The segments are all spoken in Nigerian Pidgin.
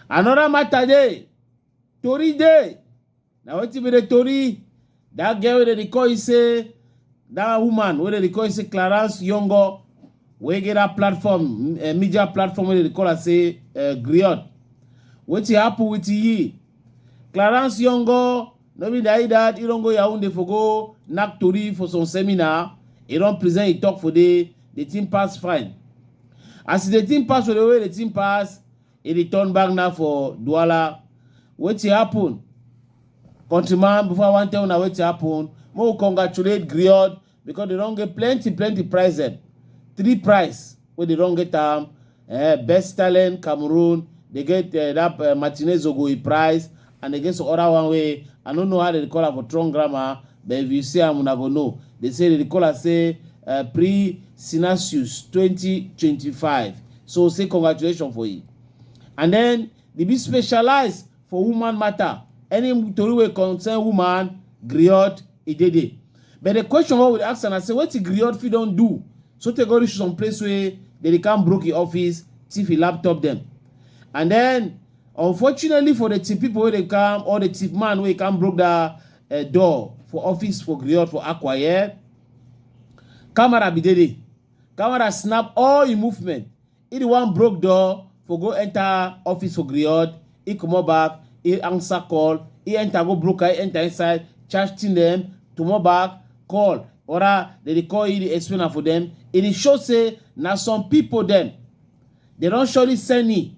another matter dey tori dey na wetin be the tori that girl wey dem dey call you say that woman wey dem dey call you say clarence yongo wey get that platform uh, media platform wey dem dey call her say uh, griot wetin happen with yi clarence yongo No be na that he don go Yaounde for go knack tori for some seminar, he don present he talk for there, the thing pass fine. As he dey think pass for the way the thing pass, he dey turn back now for Douala. Wetin happen? Countryman, before I wan tell una wetin happen, make we congratulate Griot because they don get plenty plenty prize dem three prize wey they don get am eh, best talent cameroon they get eh, that eh, martinez ogoyi prize and they get some other one wey i no know how they dey call am for strong grammar but if you see am una go know they say they dey call am say eh, pre sinasius twenty twenty five so say congratulations for you and then they be specialized for woman matter any tori wey concern woman griot e dey there but the question wey we dey ask am na say wetin griot fit don do so tey go reach some place wey dem dey come broke im office thief im laptop dem and then unfortunately for the thief people wey dey come or the thief man wey come broke that uh, door for office for griot for akwa yeah camera be dey there camera snap all im movement He the one broke door for go enter office for Griot. He comot back, he answer call, he enter go broker, he enter inside, charge thing them, comot back, call. Ora, they dey call, he dey explain am for them. He dey show say na some people them, they don surely send me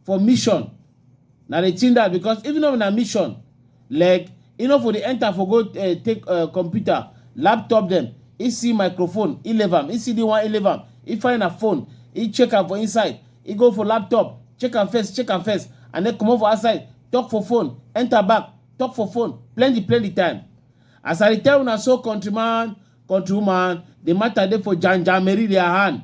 for mission. Na the thing that because even though na mission, like e no for dey enter for go uh, take uh, computer, laptop dem, e see microphone, e leave am, e see the one, e leave am, e find her phone, e check am for inside, e go for laptop, check am first, check am first, and then comot for outside, talk for phone, enter back, talk for phone, plenty plenty time. As I dey tell una so countryman, countrywoman, the matter dey for Jan Jan Mary their hand.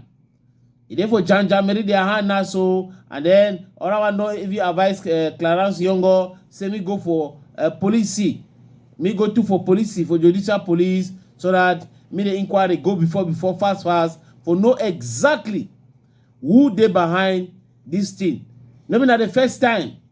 e dey for janja meri their hand now so and then other one don even advise uh, clarence yongo say me go for uh, police see me go to for police see for judicial police so that me the inquiry go before before fast fast for know exactly who dey behind this thing no be na the first time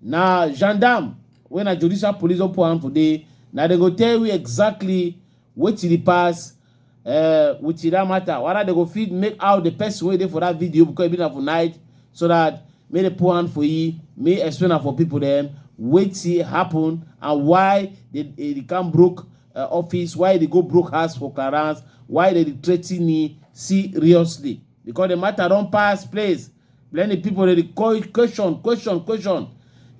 Na gendarme wey na judicial police don put hand for dey, na dem go tell we exactly wetin dey pass um with that matter, whether dem go fit make out the person wey dey for that video because e be na for night so that make dem put hand for e, make e explain am for people dem wetin happen and why the the can broke um office, why e dey go broke house for clearance, why dem dey threaten e seriously because the matter don pass place Plenty people dey dey call question, question, question.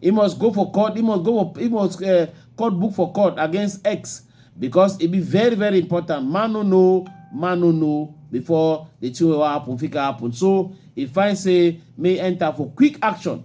He must go for court. He must go for he must uh, court book for court against X because it be very very important. Man no know, man no know before the thing wey wan happen fit can happen. So he find say may enter for quick action.